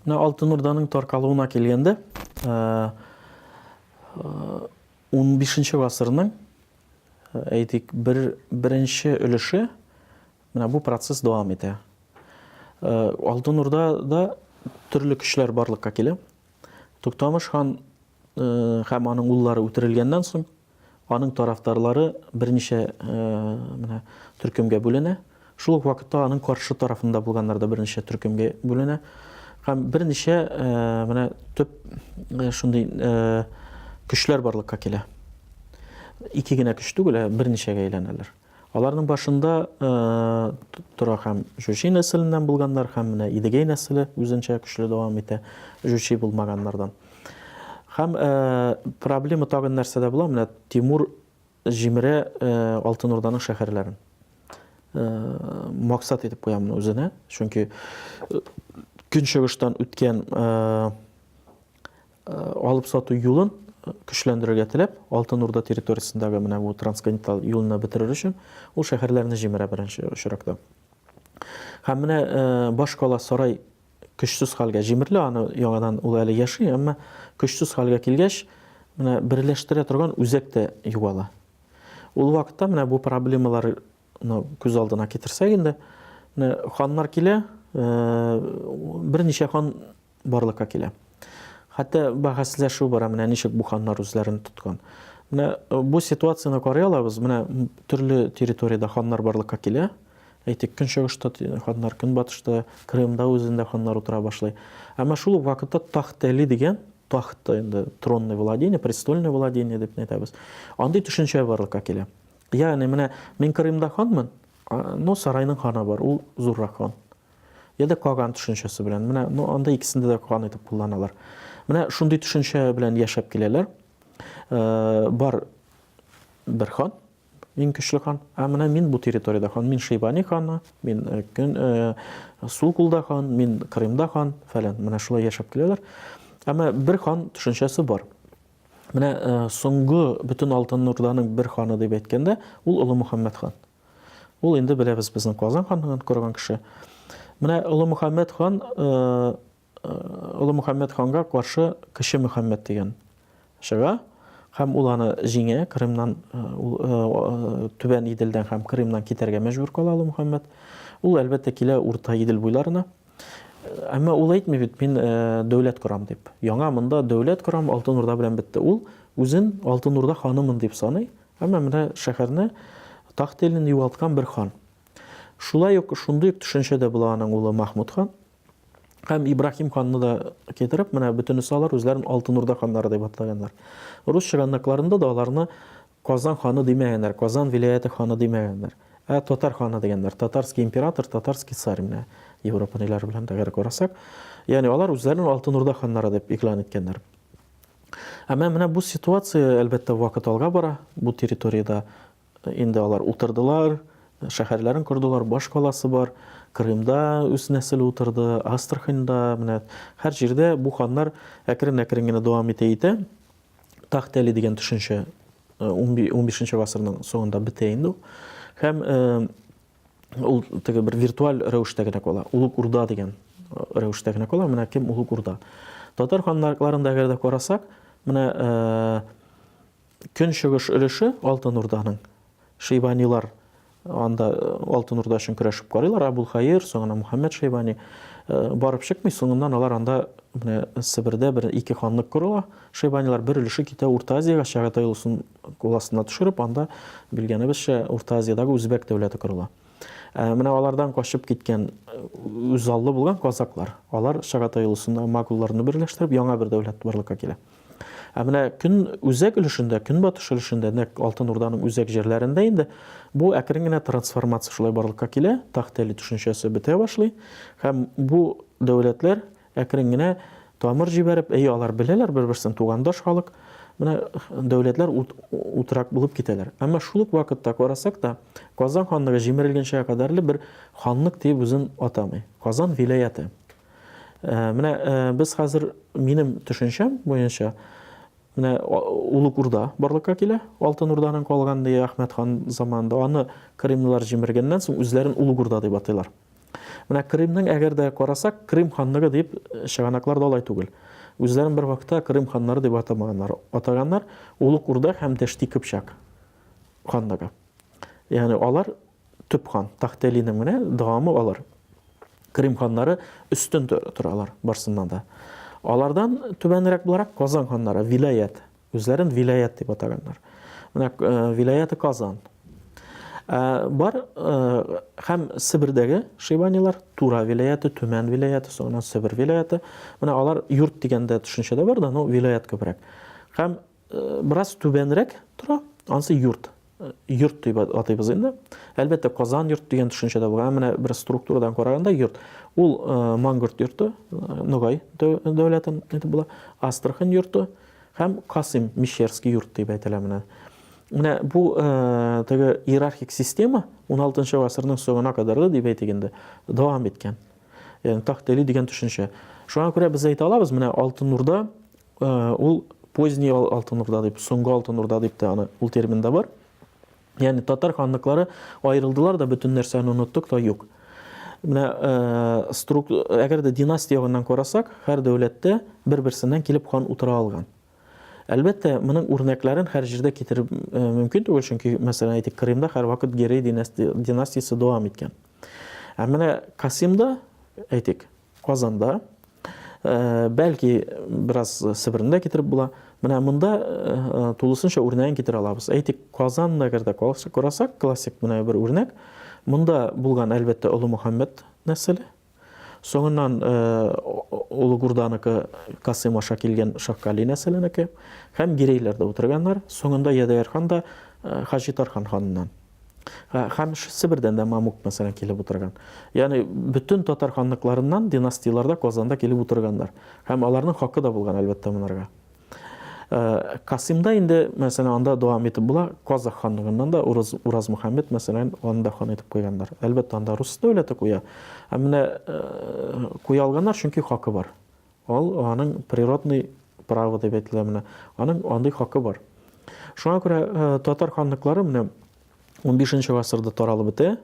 Менә Алтын Урданың таркалуына килгәндә, 15 гасырның әйтик, бер беренче өлеше менә бу процесс дәвам итә. Алтын Урда да төрле көчләр барлыкка килә. Туктамыш хан һәм аның уллары үтерелгәннән соң, аның тарафдарлары берничә менә төркемгә бүленә. Шул ук вакытта аның каршы тарафында булганнар да берничә төркемгә бүленә. Һәм берничә менә төп шундый көчләр барлыкка килә. Ике генә көч түгел, ә берничәгә әйләнәләр. Аларның башында тора һәм Җүчи нәселеннән булганнар, һәм менә Идегәй нәселе үзенчә көчле дәвам итә Җүчи булмаганнардан. Һәм проблема тагын нәрсәдә була? Менә Тимур җимерә Алтын Урданың шәһәрләрен. Максат итеп куя моны үзенә, чөнки көнчыгыштан үткән алып сату юлын көчләндерергә теләп, Алтын Урда территориясендәге менә бу трансконтиненталь юлны бетерер өчен ул шәһәрләрне җимерә беренче очракта. Һәм менә башкала сарай көчсез хәлгә җимерелә, аны яңадан ул әле яши, әмма көчсез хәлгә килгәч, менә берләштерә торган үзәк тә югала. Ул вакытта менә бу проблемалар ну күз алдына китерсәк инде, менә ханнар килә, берничә хан барлыкка килә. Хәтта бәхәсләшү бара, менә ничек бу ханнар үзләрен тоткан. Менә э, бу ситуацияне карый алабыз, менә төрле территориядә ханнар барлыкка килә. Әйтик, көнчыгышта ханнар, көнбатышта, Крымда үзендә ханнар утыра башлый. Әмма шул ук вакытта Тахтәли дигән тахт инде тронный владение, престольное владение дип әйтәбез. Андый төшенчә барлыкка килә. Ягъни менә мин Крымда ханмын, но сарайның ханы бар, ул зуррак хан. я да каган төшенчәсе белән. Менә ну, анда икесендә дә каган итеп кулланалар. Менә шундый төшенчә белән яшәп киләләр. Э, бар бер хан, иң көчле хан. Ә менә мин бу территориядә хан, мин Шейбани ханы, мин э, көн э, сул кулда хан, мин Крымда хан, фәлән. Менә шулай яшәп киләләр. Әмма бер хан төшенчәсе бар. Менә соңгы бөтен алтын нурданың бер ханы дип әйткәндә, ул Олы Мөхәммәд хан. Ул инде беләбез безнең Казан ханлыгын корган кеше. Менә Олы Мөхәммәд хан Олы Мөхәммәд ханга каршы Кече Мөхәммәд дигән чыга һәм ул аны җиңә, Крымнан, э, э, э, Түбән Иделдән һәм Крымнан китәргә мәҗбүр кала Олы Мөхәммәд. Ул әлбәттә килә Урта Идел буйларына. Әмма ул әйтми бит, мин дәүләт корам дип. Яңа монда дәүләт корам, Алтын Урда белән бетте. Ул үзен Алтын Урда ханымын дип саный Әмма менә шәһәрне, тахта илен югалткан бер хан. Шулай ук шундый ук төшенчә дә була аның улы Махмуд хан. Һәм Ибраһим ханны да китереп, менә бөтенесе алар үзләрен Алтын Урда ханнары дип атлаганнар. Рус чыганакларында да аларны Казан ханы димәгәннәр, Казан вилаяте ханы димәгәннәр. Ә татар ханы дигәннәр. Татарский император, татарский царь менә Европа ниләре белән дә карасак. Ягъни алар үзләрен Алтын Урда ханнары дип игълан иткәннәр. Ә менә бу ситуация, әлбәттә, вакыт алга бара. Бу территориядә э, инде алар утырдылар, шәһәрләрен кордылар, баш каласы бар. Крымда үз нәселе утырды, Астраханьда, менә һәр җирдә бу ханнар әкрен-әкрен генә дәвам итә итә. Тахт Әли дигән төшенчә 15 э, нче гасырның соңында бетә инде ул. Һәм э, ул теге бер виртуаль рәвештә генә кала. Улук Урда дигән э, рәвештә генә кала. Менә кем Улук Урда. Татар ханнарларында әгәр дә карасак, менә э, көнчыгыш өлеше Алтын Урданың Шейбанилар анда э, Алтын Урда өчен көрәшеп карыйлар. Абулхаир, соңына Мухаммед Шейбани барып чыкмый, соңыннан алар анда менә Себердә бер ике ханлык корыла. Шейбанилар бер өлеше китә Урта Азиягә, Чагатай улусын Кул астына төшереп, анда, белгәнебезчә, Урта Азиядәге үзбәк дәүләте корыла. Ә менә алардан качып киткән үзаллы булган казаклар, алар Чагатай улысында магулларны берләштереп, яңа бер дәүләт барлыкка килә. Ә менә көн үзәк өлешендә, көнбатыш өлешендә, нәкъ Алтын Урданың үзәк җирләрендә инде бу әкрен генә трансформация шулай барлыкка килә, Тахтели төшенчәсе бетә башлый һәм бу дәүләтләр Әкрен генә тамыр җибәреп, әйе, алар беләләр бер-берсен, тугандаш халык, менә дәүләтләр утрак булып китәләр. Әмма шул ук вакытта карасак та, Казан ханлыгы җимерелгәнчә кадәрле бер ханлык диеп үзен атамый. Казан вилаяты. Э, менә э, без хәзер минем төшенчәм буенча менә Улук Урда барлыкка килә. Алтын Урданың калган ди Әхмәт хан заманында. Аны кремлылар җимергәннән соң үзләрен Улук Урда дип атыйлар. Менә Крымның әгәр дә карасак, Крым ханлыгы дип э, чыганаклар да алай түгел. Үзләрен бер вакытта Крым ханнары дип атамаганнар. Атаганнар Улук Урда һәм Дәшти Кыпчак ханлыгы. Ягъни алар төп хан, Тахтелиның менә дәвамы алар. Крым ханнары өстен торалар барсыннан да. Алардан түбәнрәк буларак Казан ханнары, вилаят, Үзләрен виләят дип атаганнар. Менә виләяты Казан. Бар һәм Себердәге шибанилар, Тура виләяты, Төмән виләяты, соңыннан Себер виләяты. Менә алар йорт дигәндә төшенчә дә бар да, ну виләят күбрәк. Һәм бераз түбәнрәк тора, анысы йорт. йорт дип атыйбыз инде. Әлбәттә, Казан йорт дигән төшенчә дә бар. Ә менә бер структурадан караганда йорт. Ул э, Мангорт йорты, э, Ногай дәүләте итеп була, Астрахань йорты һәм Касым Мещерский йорт дип әйтелә менә. Менә бу э, теге иерархик система 16 гасырның соңына кадәр дип әйтик инде, дәвам иткән. Ягъни тахтели дигән төшенчә. Шуңа күрә без әйтә алабыз, менә Алтын Урда Ул поздний Алтын Урда дип, соңгы Алтын Урда дип тә аны, ул термин да бар. Ягъни татар ханлыклары аерылдылар да, бөтен нәрсәне оныттык та юк. Менә струк, әгәр дә династия ягыннан карасак, һәр дәүләттә бер-берсеннән килеп хан утыра алган. Әлбәттә, моның үрнәкләрен һәр җирдә китереп э, мөмкин түгел, чөнки, мәсәлән, әйтик, Крымда һәрвакыт Герей династиясе дәвам иткән. Ә менә Касимда, әйтик, Казанда, бәлки бераз Себерне дә китереп була. Менә монда тулысынча үрнәген китерә алабыз. Әйтик, Казан нәгәрдә карасак, классик менә бер үрнәк. Монда булган, әлбәттә, Олы Мөхәммәд нәселе. Соңыннан Олы Гурданыкы Касыйм аша килгән Шаккали нәселенеке һәм Гирейләрдә утырганнар. Соңында Ядәгәр хан да Хаҗи Тархан ханыннан. Һәм Себердән дә Мамук, мәсәлән, килеп утырган. Ягъни бөтен татар ханлыкларыннан династияләрдә Казанда килеп утырганнар. Һәм аларның хакы да булган, әлбәттә, монарга. Э, Касимда инде, мәсәлән, анда дәвам итеп була, Казах ханлыгыннан да Ураз, Ураз Мөхәммәд, мәсәлән, аны да хан итеп куйганнар. Әлбәттә, анда рус дәүләте куя. Ә менә э, куя алганнар, чөнки хакы бар. Ул аның природный правы дип әйтелә менә. Аның андый хакы бар. Шуңа күрә татар ханлыклары менә 15 гасырда таралып бетә.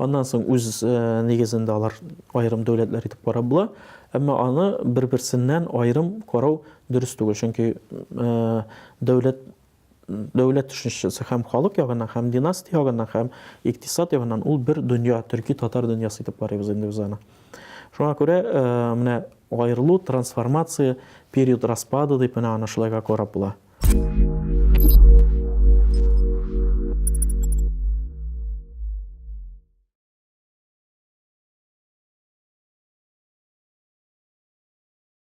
Аннан соң үз нигезендә алар аерым дәүләтләр итеп карап була. Әмма аны бер-берсеннән аерым карау дөрес түгел, чөнки дәүләт дәүләт төшенчәсе һәм халык ягыннан, һәм династия ягыннан, һәм икътисад ягыннан ул бер дөнья, төрки-татар дөньясы итеп карыйбыз инде без аны. Шуңа күрә э, менә аерылу, трансформация, период распада дип менә аны шулайга карап була.